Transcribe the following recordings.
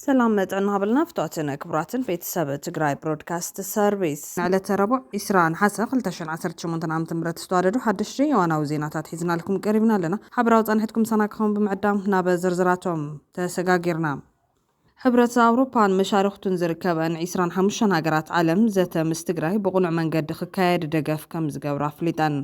ሰላም መጥዕና ሃበልና ፍትዋትን ክቡራትን ቤተሰብ ትግራይ ብሮድካስት ሰርቪስ ንዕለተ ረቡዕ 20 ነሓሰ 2018 ዓ ም ዝተዋደዱ ሓደሽቲ የዋናዊ ዜናታት ሒዝናልኩም ቀሪብና ኣለና ሓበራዊ ፃንሕትኩም ሰና ክኸውን ብምዕዳም ናብ ዝርዝራቶም ተሰጋጊርና ሕብረት ኣውሮፓን መሻርኽቱን ዝርከበን ዒስራን ሓሙሽተን ሃገራት ዓለም ዘተ ምስ ትግራይ ብቕኑዕ መንገዲ ክካየድ ደገፍ ከምዝገብሩ ኣፍሊጠን።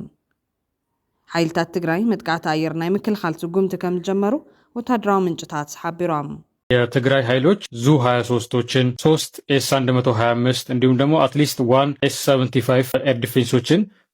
ሓይልታት ትግራይ መጥቃዕቲ ኣየር ናይ ምክልኻል ስጉምቲ ከምዝጀመሩ ወታደራዊ ምንጭታት ሓቢሮም። የትግራይ ሀይሎች ዙ ሀያ ሶስቶችን፣ ሶስት ኤስ አንድ መቶ ሀያ አምስት እንዲሁም ደግሞ አትሊስት ዋን ኤስ ሰቨንቲ ፋይቭ ኤር ዲፌንሶችን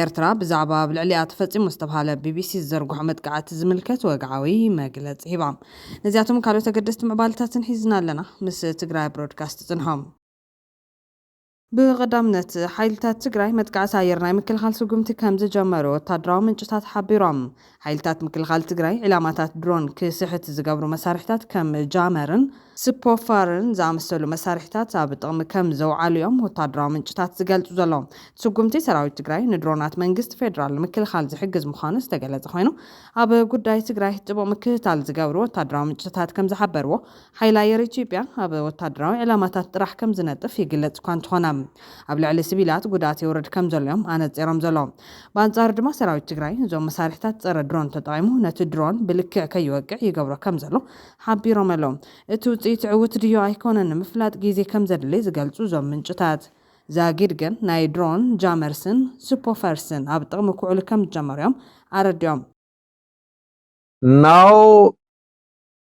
ኤርትራ ብዛዕባ ኣብ ልዕሊኣ ተፈጺሙ ዝተብሃለ ቢቢሲ ዝዘርግሖ መጥቃዕቲ ዝምልከት ወግዓዊ መግለጺ ሂባ። ነዚኣቶምን ካልኦት ኣገደስቲ ምዕባለታትን ሒዝና ኣለና ምስ ትግራይ ብሮድካስት ትጽንሖ። ብቐዳምነት፣ ሓይልታት ትግራይ መጥቃዕቲ ኣየር ናይ ምክልኻል ስጉምቲ ከምዝጀመሩ ወታደራዊ ምንጭታት ሓቢሮም። ሓይልታት ምክልኻል ትግራይ ዒላማታት ድሮን ክስሕት ዝገብሩ መሳርሒታት ከም ጃመርን ስፖፋርን ዝኣመሰሉ መሳርሒታት ኣብ ጥቕሚ ከም ዘውዓሉ እዮም ወታደራዊ ምንጭታት ዝገልጹ ዘለዉ። እቲ ስጉምቲ ሰራዊት ትግራይ ንድሮናት መንግስቲ ፌደራል ንምክልኻል ዝሕግዝ ምዃኑ ዝተገለጸ ኮይኑ፣ ኣብ ጉዳይ ትግራይ ጥቡቕ ምክትታል ዝገብሩ ወታደራዊ ምንጭታት ከም ዝሓበርዎ፣ ሓይሊ ኣየር ኢትዮጵያ ኣብ ወታደራዊ ዕላማታት ጥራሕ ከም ዝነጥፍ ይግለጽ እኳ እንተኾነ ኣብ ልዕሊ ስቪላት ጉድኣት የውርድ ከም ዘሎ እዮም ኣነጺሮም ዘሎ። ብኣንጻሩ ድማ ሰራዊት ትግራይ እዞም መሳርሒታት ጸረ ድሮን ተጠቒሙ ነቲ ድሮን ብልክዕ ከይወቅዕ ይገብሮ ከም ዘሎ ሓቢሮም ኣለው። እቲ ውጽኢት ዕውት ድዮ ኣይኮነን ንምፍላጥ ግዜ ከም ዘድሊ ዝገልጹ እዞም ምንጭታት፣ ዛጊድ ግን ናይ ድሮን ጃመርስን ስፖፈርስን ኣብ ጥቕሚ ክውዕሉ ከም ዝጀመሩ እዮም ኣረዲኦም። Now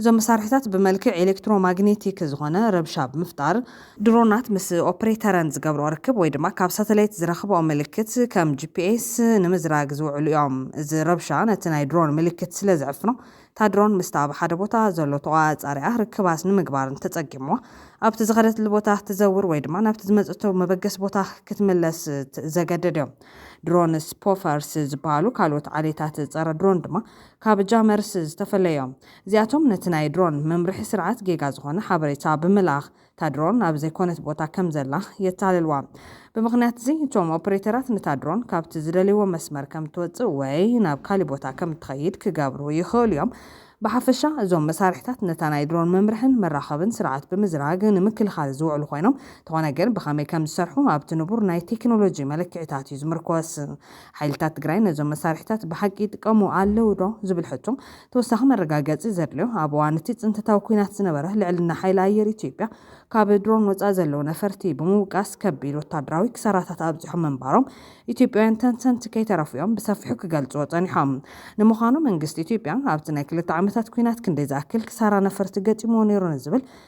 እዞም መሳርሒታት ብመልክዕ ኤሌክትሮማግኔቲክ ዝኾነ ረብሻ ብምፍጣር፣ ድሮናት ምስ ኦፕሬተረን ዝገብርኦ ርክብ ወይ ድማ ካብ ሳተላይት ዝረኽብኦ ምልክት ከም GPS ንምዝራግ ዝውዕሉ እዮም። እዚ ረብሻ ነቲ ናይ ድሮን ምልክት ስለ ዝዕፍኖ፣ እታ ድሮን ምስታ ኣብ ሓደ ቦታ ዘሎ ተቖጻጻሪኣ ርክባት ንምግባር እንተጸጊምዋ፣ ኣብቲ ዝኸደትሉ ቦታ ክትዘውር ወይ ድማ ናብቲ ዝመጸቶ መበገሲ ቦታ ክትምለስ ዘገድድ እዩ። ድሮን ስፖፈርስ ዝበሃሉ ካልኦት ዓሌታት ጸረ-ድሮን ድማ ካብ ጃመርስ ዝተፈለዮም እዚኣቶም ነቲ ናይ ድሮን መምርሒ ስርዓት ጌጋ ዝኾነ ሓበሬታ ብምልኣኽ እታ ድሮን ኣብ ዘይኮነት ቦታ ከም ዘላ የታልልዋ። ብምኽንያት'ዚ እቶም ኦፕሬተራት ነታ ድሮን ካብቲ ዝደልይዎ መስመር ከም ትወጽእ ወይ ናብ ካሊእ ቦታ ከም ትኸይድ ክገብሩ ይኽእሉ እዮም። ብሓፈሻ እዞም መሳርሒታት ነታ ናይ ድሮን መምርሕን መራኸብን ስርዓት ብምዝራግ ንምክልኻል ዝውዕሉ ኮይኖም እንተኾነ ግን ብኸመይ ከም ዝሰርሑ ኣብቲ ንቡር ናይ ቴክኖሎጂ መለክዒታት እዩ ዝምርኮስ። ሓይልታት ትግራይ ነዞም መሳርሒታት ብሓቂ ይጥቀሙ ኣለዉ ዶ? ዝብል ሕቶ ተወሳኺ መረጋገጺ ዘድልዮ ኣብ እዋን እቲ ፅንተታዊ ኲናት ዝነበረ ልዕልና ሓይሊ ኣየር ኢትዮጵያ ካብ ድሮን ወፃኢ ዘለዉ ነፈርቲ ብምውቃስ ከቢድ ወታደራዊ ክሳራታት ኣብፂሖም ምንባሮም ኢትዮጵያውያን ተንተንቲ ከይተረፉ እዮም ብሰፊሑ ክገልፅዎ ፀኒሖም። ንምዃኑ መንግስቲ ኢትዮጵያ ኣብቲ ናይ ክልተ ዓመታት ኲናት ክንደይ ዝኣክል ክሳራ ነፈርቲ ገጢምዎ ነይሩ ንዝብል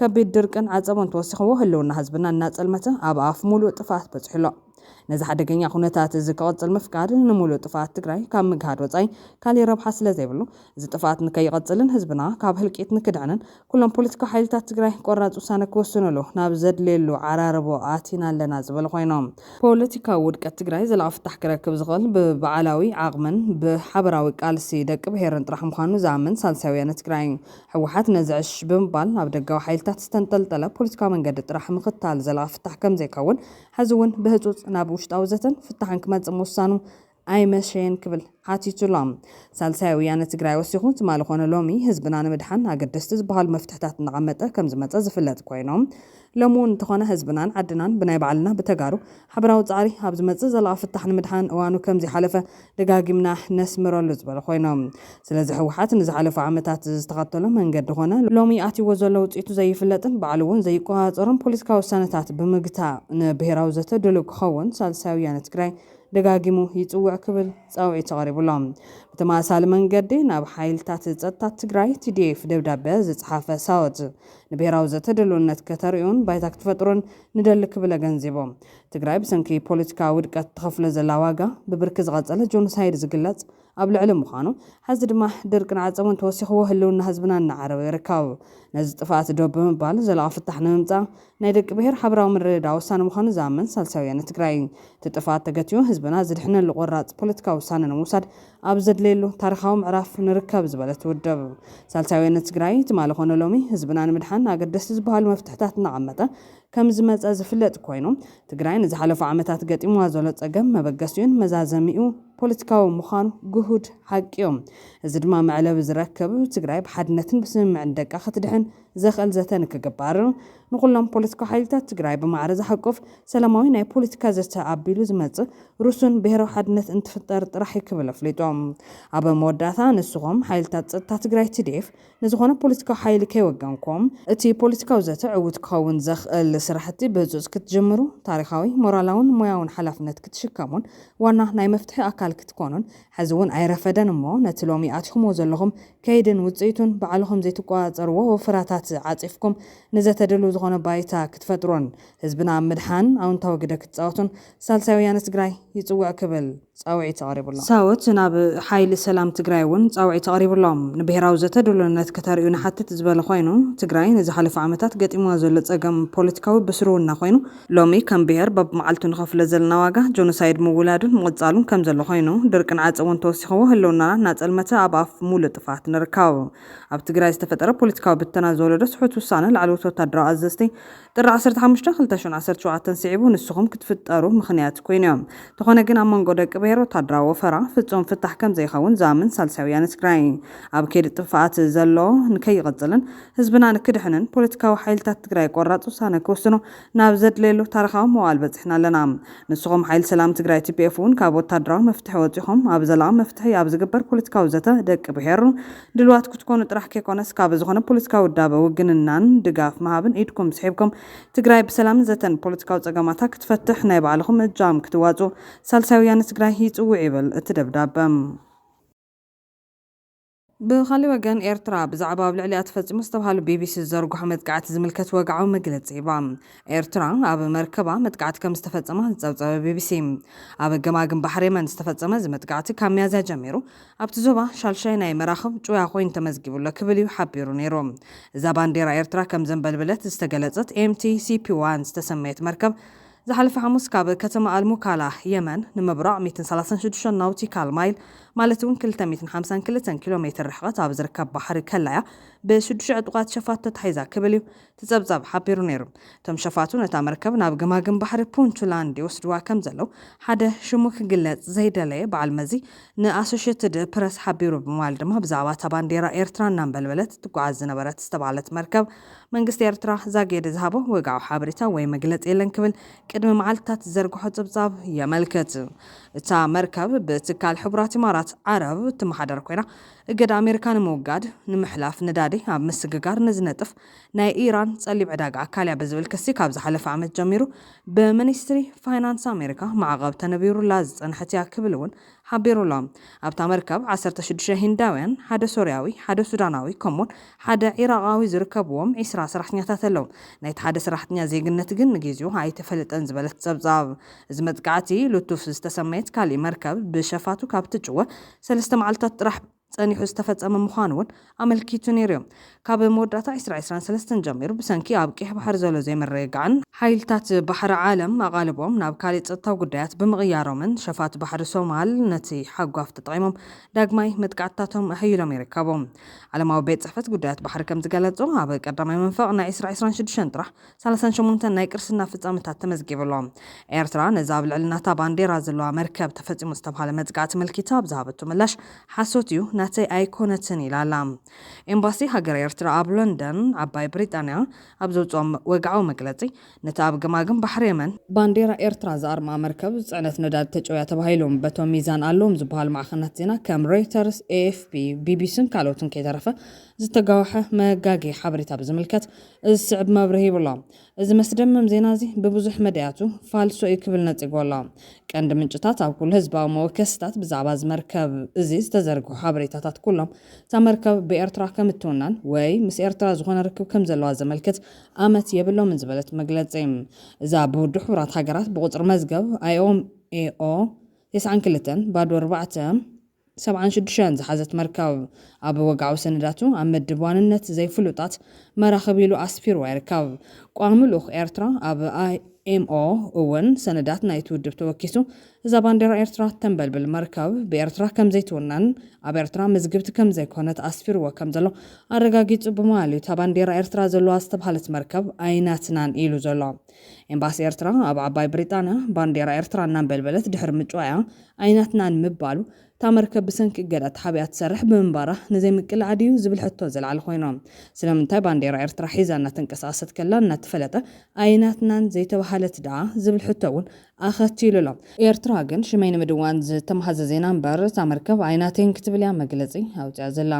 ከቢድ ድርቅን ዓፀቦን ተወሲኽዎ ህልውና ህዝብና እናፀልመተ ኣብ ኣፍ ሙሉእ ጥፍኣት በፂሑ ኣሎ። ነዚ ሓደገኛ ኩነታት እዚ ክቕፅል ምፍቃድ ንሙሉእ ጥፍኣት ትግራይ ካብ ምግሃድ ወፃኢ ካሊእ ረብሓ ስለዘይብሉ እዚ ጥፍኣት ንከይቕፅልን ህዝብና ካብ ህልቂት ንክድሕንን ኩሎም ፖለቲካዊ ሓይልታት ትግራይ ቆራፅ ውሳነ ክውስንሉ ናብ ዘድልየሉ ዓራርቦ ኣቲና ኣለና ዝበሉ ኮይኖም ፖለቲካዊ ውድቀት ትግራይ ዘላቒ ፍታሕ ክረክብ ዝኽእል ብባዕላዊ ዓቕምን ብሓበራዊ ቃልሲ ደቂ ብሄርን ጥራሕ ምዃኑ ዝኣምን ሳልሳይ ወያነ ትግራይ ህወሓት ነዚ ዕሽ ብምባል ኣብ ደጋዊ ሓይልታት ዝተንጠልጠለ ፖለቲካዊ መንገዲ ጥራሕ ምኽታል ዘላቒ ፍታሕ ከምዘይከውን ሕዚ እውን ብህፁፅ ናብ ውሽጣዊ ዘተን ፍታሕን ክመፅእ ምውሳኑ ኣይመሸየን ክብል ሓቲቱ ኣሎ። ሳልሳይ ወያነ ትግራይ ወሲኹ ትማሊ ኮነ ሎሚ ህዝብና ንምድሓን ኣገደስቲ ዝበሃሉ መፍትሕታት እናቐመጠ ከምዝመፀ ዝፍለጥ ኮይኑ ሎሚ እውን እንተኾነ ህዝብናን ዓድናን ብናይ ባዕልና ብተጋሩ ሓበራዊ ፃዕሪ ኣብ ዝመፅእ ዘላቒ ፍታሕ ንምድሓን እዋኑ ከምዘይሓለፈ ደጋጊምና ነስምረሉ ዝበሉ ኮይኖም ስለዚ ህወሓት ንዝሓለፉ ዓመታት ዝተኸተሎ መንገዲ ኮነ ሎሚ ኣትይዎ ዘሎ ውፅኢቱ ዘይፍለጥን ባዕሉ እውን ዘይቆፃፀሮን ፖለቲካዊ ውሳነታት ብምግታእ ንብሄራዊ ዘተ ድሉው ክኸውን ሳልሳይ ወያነ ትግራይ ደጋጊሙ ይፅውዕ ክብል ፃውዒቱ ኣቕሪቡ ኣሎ። ብተመሳሳሊ መንገዲ ናብ ሓይልታት ፀጥታ ትግራይ፣ TDF፣ ደብዳበ ዝፀሓፈ ሳወት፣ ንብሄራዊ ዘተ ድልውነት ከተርእዩን ባይታ ክትፈጥሩን ንደሊ ክብል ኣገንዚቡ። ትግራይ ብሰንኪ ፖለቲካዊ ውድቀት ትኸፍሎ ዘላ ዋጋ ብብርኪ ዝቐፀለ ጆኖሳይድ ዝግለፅ ኣብ ልዕሊ ምዃኑ ሐዚ ድማ ድርቅን ዓፀቦን ተወሲኽዎ ህልውና ህዝብና እናዓረወ ይርከብ። ነዚ ጥፍኣት ደው ብምባል ዘላቒ ፍታሕ ንምምፃእ ናይ ደቂ ብሄር ሓበራዊ ምርድዳእ ወሳኒ ምዃኑ ዝኣምን ሳልሳይ ወያነ ትግራይ እቲ ጥፍኣት ተገቲኡ ህዝብና ዝድሕነሉ ቆራፅ ፖለቲካዊ ውሳነ ንምውሳድ ኣብ ዘድለየሉ ታሪኻዊ ምዕራፍ ንርከብ ዝበለት ውድብ ሳልሳይ ወያነ ትግራይ፣ ትማሊ ኮነ ሎሚ ህዝብና ንምድሓን ኣገደስቲ ዝበሃሉ መፍትሕታት እናቐመጠ ከምዝመፀ ዝፍለጥ ኮይኑ፣ ትግራይ ንዝሓለፉ ዓመታት ገጢሙዋ ዘሎ ፀገም መበገሲኡን መዛዘሚኡ ፖለቲካዊ ምዃኑ ግሁድ ሓቂ ዩ። እዚ ድማ መዕለቢ ዝረክብ ትግራይ ብሓድነትን ብስምምዕን ደቃ ክትድሕን፣ ዘኽእል ዘተ ንክግበር ንኹሎም ፖለቲካዊ ሓይልታት ትግራይ ብማዕረ ዝሓቁፍ ሰላማዊ ናይ ፖለቲካ ዘተ ኣቢሉ ዝመፅእ ርሱን ብሄራዊ ሓድነት እንትፍጠር ጥራሕ እዩ ክብል ኣፍሊጡ። ኣብ መወዳእታ ንስኹም ሓይልታት ፀጥታ ትግራይ፣ TDF፣ ንዝኾነ ፖለቲካዊ ሓይሊ ከይወገንኩም፣ እቲ ፖለቲካዊ ዘተ ዕዉት ክኸውን ዘኽእል ስራሕቲ ብህፁፅ ክትጅምሩ፣ ታሪኻዊ፣ ሞራላውን ሞያውን ሓላፍነት ክትሽከሙን ዋና ናይ መፍትሒ ኣካል ክትኮኑን ሕዚ እውን ኣይረፈደን እሞ ነቲ ሎሚ ኣቲኹምዎ ዘለኹም ከይድን ውፅኢቱን ባዕልኹም ዘይትቆፃፀርዎ ወፈራታት ዓፂፍኩም ንዘተ ድልው ዝኾነ ባይታ ክትፈጥሩን ህዝብና ኣብ ምድሓን ኣውንታዊ ግደ ክትፃወቱን ሳልሳይ ወያነ ትግራይ ይፅውዕ ክብል ፃውዒት ኣቕሪቡ ኣሎ። ሳወት ናብ ሓይሊ ሰላም ትግራይ እውን ፃውዒት ኣቕሪቡ ኣሎ። ንብሄራዊ ዘተ ድሉውነት ከተርእዩ ንሓትት ዝበለ ኮይኑ ትግራይ ንዝሓለፉ ዓመታት ገጢምዋ ዘሎ ፀገም ፖለቲካዊ ብስርውና ኮይኑ ሎሚ ከም ብሄር በብመዓልቱ ንኸፍሎ ዘለና ዋጋ ጆኖሳይድ ምውላዱን ምቕጻሉን ከም ዘሎ ኮይኑ፣ ድርቂ ንዓጸ እውን ተወሲኽዎ ህልውናና እናጸልመተ ኣብ ኣፍ ሙሉእ ጥፍኣት ንርከብ። ኣብ ትግራይ ዝተፈጠረ ፖለቲካዊ ብተና ዝወለዶ ስሑት ውሳነ ላዕለዎት ወታደራዊ ኣዘዝቲ ጥሪ ዓሰርተ ሓሙሽተ ክልተ ሽሕን ዓሰርተ ሸውዓተን ስዒቡ ንስኹም ክትፍጠሩ ምኽንያት ኮይኑዮ። እንተኾነ ግን ኣብ መንጎ ደቂ ብሄር ወታደራዊ ወፈራ ፍጹም ፍታሕ ከም ዘይኸውን ዝኣምን ሳልሳይ ወያነ ትግራይ ኣብ ከይዲ ጥፍኣት ዘሎ ንከይቕጽልን ህዝብና ንክድሕንን ፖለቲካዊ ሓይልታት ትግራይ ቆራፅ ውሳነ ክውስኑ ናብ ዘድለየሉ ታርኻዊ መዋእል በፂሕና ኣለና። ንስኹም ሓይሊ ሰላም ትግራይ tpf እውን ካብ ወታደራዊ መፍትሒ ወፂኹም ኣብ ዘላቒ መፍትሒ ኣብ ዝግበር ፖለቲካዊ ዘተ ደቂ ብሄር ድልዋት ክትኮኑ ጥራሕ ከይኮነስ ካብ ዝኾነ ፖለቲካዊ ውዳበ ውግንናን ድጋፍ ምሃብን ኢድኩም ስሒብኩም ትግራይ ብሰላምን ዘተን ፖለቲካዊ ፀገማታ ክትፈትሕ ናይ ባዕልኹም እጃም ክትዋፅኡ ሳልሳይ ወያነ ትግራይ ይፅውዕ ይብል እቲ ደብዳበ። ብኻልእ ወገን ኤርትራ፣ ብዛዕባ ኣብ ልዕሊኣ ተፈጺሙ ዝተብሃሉ ቢቢሲ ዝዘርግሖ መጥቃዕቲ ዝምልከት ወግዓዊ መግለጺ ሂባ። ኤርትራ፣ ኣብ መርከባ መጥቃዕቲ ከም ዝተፈጸመ ዝጸብጸበ ቢቢሲ፣ ኣብ ገማግም ባሕሪ የመን ዝተፈጸመ እዚ መጥቃዕቲ ካብ ሚያዝያ ጀሚሩ ኣብቲ ዞባ ሻልሻይ ናይ መራኽብ ጭውያ ኮይኑ ተመዝጊቡ ኣሎ ክብል እዩ ሓቢሩ ነይሩ። እዛ ባንዴራ ኤርትራ ከም ዘንበልበለት ዝተገለጸት ኤምቲ ሲፒ ዋን ዝተሰመየት መርከብ ዝሓለፈ ሓሙስ ካብ ከተማ ኣል-ሙካላ፣ የመን፣ ንምብራቕ ሚእትን ሰላሳን ሽዱሽተን ናውቲካል ማይል ማለት እውን ክልተ ሚእትን ሓምሳን ክልተን ኪሎ ሜትር ርሕቐት ኣብ ዝርከብ ባሕሪ ከላ እያ ብሽዱሽተ ዕጡቓት ሸፋቱ ተታሒዛ ክብል እዩ እቲ ጸብጻብ ሓቢሩ ነይሩ። እቶም ሸፋቱ ነታ መርከብ ናብ ገማግም ባሕሪ ፑንትላንድ ይወስድዋ ከም ዘለዉ ሓደ ሽሙ ክግለጽ ዘይደለየ በዓል መዚ ንኣሶሸትድ ፕረስ ሓቢሩ ብምባል ድማ ብዛዕባ እታ ባንዴራ ኤርትራ እናንበልበለት ትጓዓዝ ዝነበረት ዝተባህለት መርከብ መንግስቲ ኤርትራ ዛጊድ ዝሃቦ ወግዓዊ ሓበሬታ ወይ መግለጺ የለን ክብል ቅድሚ መዓልትታት ዝዘርግሖ ጽብጻብ የመልክት። እታ መርከብ ብትካል ሕቡራት ኢማራት ዓረብ እትመሓደር ኮይና፣ እገዳ ኣሜሪካ ንምውጋድ፣ ንምሕላፍ ነዳዲ ኣብ ምስግጋር ንዝነጥፍ ናይ ኢራን ጸሊም ዕዳጋ ኣካል እያ ብዝብል ክሲ ካብ ዝሓለፈ ዓመት ጀሚሩ ብሚኒስትሪ ፋይናንስ ኣሜሪካ ማዕቐብ ተነቢሩላ ዝጸንሐት እያ ክብል'ውን ሓቢሩ'ሎ። ኣብታ መርከብ ዓሰርተ ሽዱሽተ ሂንዳውያን፣ ሓደ ሶርያዊ፣ ሓደ ሱዳናዊ ከምኡ'ውን ሓደ ዒራቓዊ ዝርከብዎም ዒስራ ሰራሕተኛታት ኣለዉ። ናይቲ ሓደ ሰራሕተኛ ዜግነት ግን ንግዜኡ ኣይተፈለጠን ዝበለት ጸብጻብ እዚ መጥቃዕቲ፣ ሉቱፍ ዝተሰመየት ካልእ መርከብ ብሸፋቱ ካብ እትጭወ ሰለስተ መዓልታት ጥራሕ ጸኒሑ ዝተፈጸመ ምዃኑ እውን ኣመልኪቱ ነይሩ እዩ። ካብ መወዳእታ ዕስራ ዕስራን ሰለስተን ጀሚሩ ብሰንኪ ኣብ ቀይሕ ባሕሪ ዘሎ ዘይምርግጋዕን፣ ሓይልታት ባሕሪ ዓለም ኣቓልቦም ናብ ካልእ ጸጥታዊ ጉዳያት ብምቕያሮምን፣ ሸፋቱ ባሕሪ ሶማል ነቲ ሓጓፍ ተጠቒሞም ዳግማይ መጥቃዕትታቶም ኣሐይሎም ይርከቡ። ዓለማዊ ቤት ጽሕፈት ጉዳያት ባሕሪ ከም ዝገለጾ፣ ኣብ ቀዳማይ መንፈቕ ናይ ዕስራ ዕስራን ሽዱሽተን ጥራሕ፣ ሳልሳን ሸሞንተን ናይ ቅርስና ፍጻመታት ተመዝጊቡ ኣሎ። ኤርትራ ነዚ ኣብ ልዕሊ ናታ ባንዴራ ዘለዋ መርከብ ተፈጺሙ ዝተብሃለ መጥቃዕቲ ኣመልኪታ ኣብ ዝሃበቶ ምላሽ ሓሶት እዩ ናተይ ኣይኮነትን ኢላ ኣላ። ኤምባሲ ሃገረ ኤርትራ ኣብ ለንደን ዓባይ ብሪጣንያ ኣብ ዘውጽኦ ወግዓዊ መግለጺ ነታ ኣብ ገማግም ባሕሪ የመን፣ ባንዴራ ኤርትራ ዝኣርምኣ መርከብ ጽዕነት ነዳዲ ተጨውያ ተባሂሉ በቶም ሚዛን ኣለዎም ዝበሃሉ ማዕኸናት ዜና ከም ሮይተርስ፣ ኤኤፍፒ፣ ቢቢሲን ካልኦትን ከይተረፈ ዝተጋወሐ መጋገዪ ሓበሬታ ብዝምልከት እዚ ዝስዕብ መብርሂ ይብሎ። እዚ መስደምም ዜና እዚ ብብዙሕ መዳያቱ ፋልሶ እዩ ክብል ነጺግዎ ኣሎ። ቀንዲ ምንጭታት ኣብ ኩሉ ህዝባዊ መወከሲታት ብዛዕባ እዚ መርከብ እዚ ዝተዘርግሑ ሓበሬታታት ኩሎም እታ መርከብ ብኤርትራ ከም እትውነን ወይ ምስ ኤርትራ ዝኾነ ርክብ ከም ዘለዋ ዘመልክት ኣመት የብሎምን ዝበለት መግለጺ እዛ ብውድብ ሕቡራት ሃገራት ብቁጽሪ መዝገብ IOMAO ቴስዓን ክልተን ባዶ ኣርባዕተ ሰብዓን ሽዱሽተን ዝሓዘት መርከብ፣ ኣብ ወግዓዊ ሰነዳቱ ኣብ መድብ ዋንነት ዘይፍሉጣት መራኽብ ኢሉ ኣስፊርዋ ይርከብ። ቋሚ ልኡኽ ኤርትራ ኣብ IMO እውን ሰነዳት ናይቲ ውድብ ተወኪሱ፣ እዛ ባንዴራ ኤርትራ እተንበልብል መርከብ ብኤርትራ ከም ዘይትውነን ኣብ ኤርትራ ምዝግብቲ ከም ዘይኮነት ኣስፊርዎ ከም ዘሎ ኣረጋጊጹ ብምባል'ዩ እታ ባንዴራ ኤርትራ ዘለዋ ዝተብሃለት መርከብ ኣይናትናን ኢሉ ዘሎ። ኤምባሲ ኤርትራ ኣብ ዓባይ ብሪጣንያ ባንዴራ ኤርትራ እናንበልበለት ድሕሪ ምጭዋያ ኣይናትናን ምባሉ፣ እታ መርከብ ብሰንኪ እገዳ ተሓቢኣ ትሰርሕ ብምንባራ ንዘይምቅልዓ ድዩ ዝብል ሕቶ ዘልዓለ ኮይኑ፣ ስለምንታይ ባንዴራ ኤርትራ ሒዛ እናተንቀሳቐሰት ከላ እናተፈለጠ ኣይናትናን ዘይተባህለት ደኣ ዝብል ሕቶ እውን ኣኸቲሉ ኣሎ። ኤርትራ ግን ሽመይ ንምድዋን ዝተማህዘ ዜና እምበር እታ መርከብ ኣይናተይን ክትብል እያ መግለጺ ኣውጺኣ ዘላ።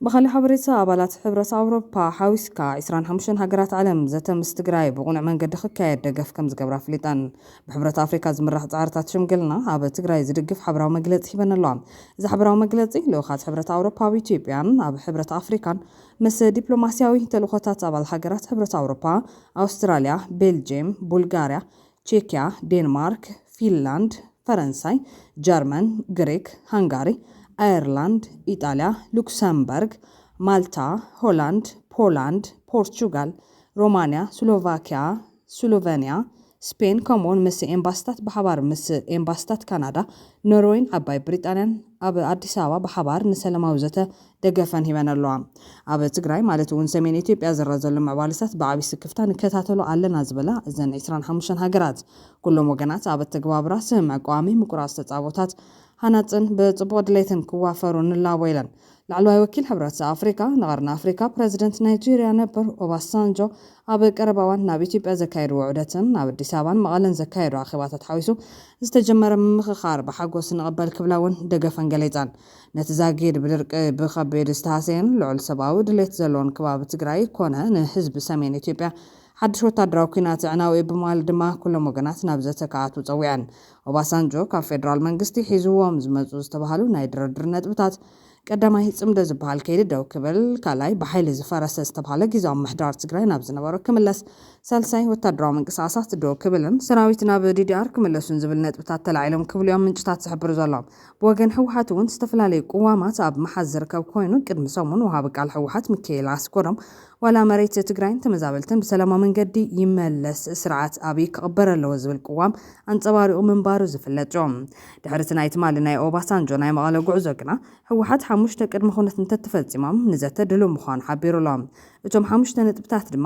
ብኻሊእ ሓበሬታ ኣባላት ሕብረት ኣውሮፓ ሓዊስካ ዕስራን ሓሙሽተን ሃገራት ዓለም ዘተ ምስ ትግራይ ብቕኑዕ መንገዲ ክካየድ ደገፍ ከምዝገብራ ኣፍሊጠን። ብሕብረት ኣፍሪካ ዝምራሕ ፃዕርታት ሽምግልና ኣብ ትግራይ ዝድግፍ ሓበራዊ መግለፂ ሂበን ኣለዋ። እዚ ሓበራዊ መግለፂ ልኡኻት ሕብረት ኣውሮፓ ኣብ ኢትዮጵያን ኣብ ሕብረት ኣፍሪካን ምስ ዲፕሎማሲያዊ ተልእኾታት ኣባል ሃገራት ሕብረት ኣውሮፓ፣ ኣውስትራሊያ፣ ቤልጄም፣ ቡልጋሪያ፣ ቼክያ፣ ዴንማርክ፣ ፊንላንድ፣ ፈረንሳይ፣ ጀርመን፣ ግሪክ፣ ሃንጋሪ፣ ኣየርላንድ፣ ኢጣልያ፣ ሉክሰምበርግ፣ ማልታ፣ ሆላንድ፣ ፖላንድ፣ ፖርቹጋል፣ ሮማንያ፣ ስሎቫክያ፣ ስሎቨንያ፣ ስፔን ከምኡ'ውን ምስ ኤምባሲታት ብሓባር ምስ ኤምባሲታት ካናዳ፣ ኖርወይን ዓባይ ብሪጣንያን ኣብ ኣዲስ ኣበባ ብሓባር ንሰለማዊ ዘተ ደገፈን ሂበን ኣለዋ። ኣብ ትግራይ ማለት እውን ሰሜን ኢትዮጵያ ዝረኣ ዘሎ ምዕባለታት ብዓብይ ስክፍታ ንከታተሎ ኣለና ዝበላ እዘን ዕስራን ሓሙሽተን ሃገራት፣ ኩሎም ወገናት ኣብ ኣተገባብራ ስምምዕ ቀዋሚ ምቁራፅ ተፃቦታት ሃናፅን ብፅቡቕ ድሌትን ክዋፈሩ ንላቦ ኢለን። ላዕለዋይ ወኪል ሕብረት ኣፍሪካ ንቐርኒ ኣፍሪካ ፕረዚደንት ናይጀሪያ ነበር ኦባሳንጆ ኣብ ቀረባ እዋን ናብ ኢትዮጵያ ዘካየድዎ ዑደትን ኣብ ኣዲስ ኣበባን መቐለን ዘካየዶ ኣኼባታት ሓዊሱ ዝተጀመረ ምምኽኻር ብሓጎስ ንቕበል ክብላ እውን ደገፈን ገሊፀን። ነቲ ዛጊድ ብድርቂ ብኸቢድ ዝተሃሰየን ልዑል ሰብኣዊ ድሌት ዘለዎን ከባቢ ትግራይ ኮነ ንህዝቢ ሰሜን ኢትዮጵያ ሓድሽ ወታደራዊ ኲናት ኣዕናዊ'ዩ ብምባል ድማ ኩሎም ወገናት ናብ ዘተ ክኣትዉ ጸዊዐን። ኦባሳንጆ ካብ ፌደራል መንግስቲ ሒዝዎም ዝመጹ ዝተባህሉ ናይ ድርድር ነጥብታት፣ ቀዳማይ ጽምዶ ዝበሃል ከይዲ ደው ክብል፣ ካልኣይ ብሓይሊ ዝፈረሰ ዝተብሃለ ግዝያዊ ምምሕዳር ትግራይ ናብ ዝነበሮ ክምለስ፣ ሳልሳይ ወታደራዊ ምንቅስቓሳት ደው ክብልን ሰራዊት ናብ ዲዲኣር ክምለሱን ዝብል ነጥብታት ተላዒሎም ክብል'ዮም ምንጭታት ዝሕብሩ ዘሎ። ብወገን ህወሓት እውን ዝተፈላለዩ ቅዋማት ኣብ ምሓዝ ዝርከብ ኮይኑ ቅድሚ ሰሙን ወሃቢ ቃል ህወሓት ሚካኤል ኣስገዶም ዋላ መሬት ትግራይን ተመዛበልትን ብሰላማዊ መንገዲ ይመለስ ስርዓት ኣብይ ክቕበር ኣለዎ ዝብል ቅዋም ኣንፀባሪቑ ምንባሩ ዝፍለጥ እዩ። ድሕሪ እቲ ናይ ትማሊ ናይ ኦባሳንጆ ናይ መቐለ ጉዕዞ ግና ህወሓት ሓሙሽተ ቅድመ ኩነት እንተተፈፂሞም ንዘተ ድሉው ምዃኑ ሓቢሩ ኣሎ። እቶም ሓሙሽተ ነጥብታት ድማ።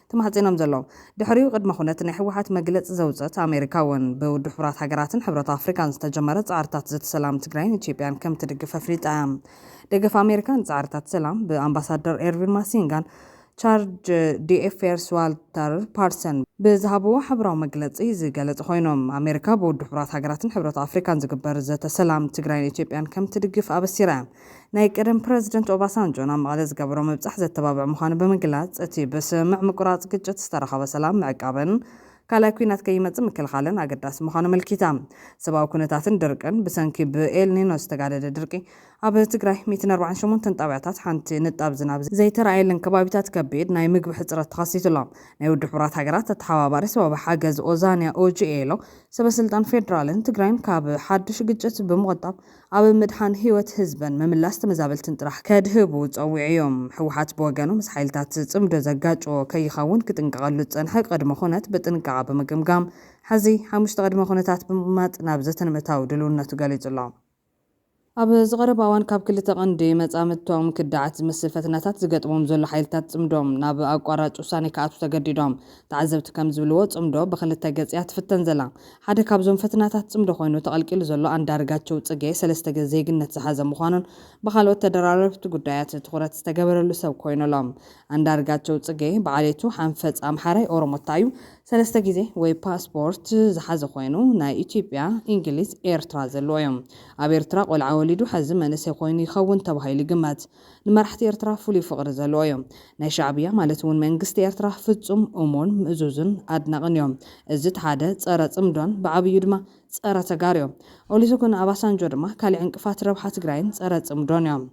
ተማሕጺኖም ዘለዉ። ድሕሪኡ ቅድመ ኩነት ናይ ህወሓት መግለጺ ዘውጸት ኣሜሪካ እውን፣ ብውድብ ሕቡራት ሃገራትን ሕብረት ኣፍሪቃን ዝተጀመረ ጻዕርታት ዘተ ሰላም ትግራይን ኢትዮጵያን ከም ትድግፍ ኣፍሊጣ እያ። ደገፍ ኣሜሪካ ንጻዕርታት ሰላም፣ ብኣምባሳደር ኤርቪን ማሲንጋን ቻርጅ ዲኤፌርስ ዋልተር ፓርሰን ብዝሃብዎ ሓበራዊ መግለጺ ዝገለጹ ኮይኖም፣ ኣሜሪካ ብውድብ ሕቡራት ሃገራትን ሕብረት ኣፍሪቃን ዝግበር ዘተ ሰላም ትግራይን ኢትዮጵያን ከም ትድግፍ ኣበሲራ እያ። ናይ ቀደም ፕረዚደንት ኦባሳንጆ ናብ መቐለ ዝገበሮ ምብጻሕ ዘተባብዕ ምዃኑ ብምግላጽ፣ እቲ ብስምምዕ ምቁራጽ ግጭት ዝተረኸበ ሰላም ምዕቃብን ካልኣይ ኲናት ከይመጽእ ምክልኻልን ኣገዳሲ ምዃኑ ኣመልኪታ። ሰብኣዊ ኩነታትን ድርቅን፣ ብሰንኪ ብኤል ኒኖ ዝተጋደደ ድርቂ፣ ኣብ ትግራይ ሚእትን ኣርባዓን ሸሞንተን ጣብያታት ሓንቲ ንጣብ ዝናብ ዘይተራእየለን ከባቢታት ከቢድ ናይ ምግቢ ሕጽረት ተኸሲቱ ኣሎ። ናይ ውድብ ሕቡራት ሃገራት ኣተሓባባሪ ሰብኣዊ ሓገዝ ኦዛንያ ኦጂኤሎ፣ ሰበስልጣን ፌደራልን ትግራይን ካብ ሓድሽ ግጭት ብምቑጣብ፣ ኣብ ምድሓን ህይወት ህዝብን ምምላስ ተመዛበልትን ጥራሕ ከድህቡ ፀዊዕዮም። ህወሓት ብወገኑ ምስ ሓይልታት ፅምዶ ዘጋጭዎ ከይኸውን ክጥንቀቐሉ ዝፀንሐ ቅድመ ኹነት ብጥንቃቐ ብምግምጋም ሕዚ ሓሙሽተ ቅድመ ኹነታት ብምቕማጥ ናብ ዘተ ንምእታው ድልውነቱ ገሊፁ ኣሎ። ኣብ ዝቐረባ እዋን ካብ ክልተ ቀንዲ መፃምድቶም ክዳዓት ዝመስል ፈተናታት ዝገጥሞም ዘሎ ሓይልታት ፅምዶ ናብ ኣቋራጭ ውሳኔ ክኣትው ተገዲዶም። ተዓዘብቲ ከም ዝብልዎ ጽምዶ ብኽልተ ገጽ እያ ትፍተን ዘላ። ሓደ ካብዞም ፈትናታት ጽምዶ ኮይኑ ተቐልቂሉ ዘሎ ኣንዳርጋቸው ጽጌ ሰለስተ ገጽ ዜግነት ዝሓዘ ምዃኑን ብኻልኦት ተደራረብቲ ጉዳያት ትኹረት ዝተገበረሉ ሰብ ኮይኑ ኣሎ። ኣንዳርጋቸው ጽጌ ብዓሌቱ ሓንፈጽ ኣምሓራይ ኦሮሞታ እዩ። ሰለስተ ግዜ ወይ ፓስፖርት ዝሓዘ ኮይኑ ናይ ኢትዮጵያ፣ ኢንግሊዝ፣ ኤርትራ ዘለዎ እዩ። ኣብ ኤርትራ ቆልዓ ወሊዱ ሐዚ መንእሰይ ኮይኑ ይኸውን ተባሂሉ ይግመት። ንመራሕቲ ኤርትራ ፍሉይ ፍቕሪ ዘለዎ እዩ። ናይ ሻዕብያ ማለት እውን መንግስቲ ኤርትራ ፍጹም እሙን፣ ምእዙዝን ኣድናቕን እዩ። እዚ እቲ ሓደ ጸረ ጽምዶን ብዓብዩ ድማ ጸረ ተጋሩ እዩ። ኦሊሰጉን ኣባሳንጆ ድማ ካሊዕ ዕንቅፋት ረብሓ ትግራይን ጸረ ጽምዶን እዮም።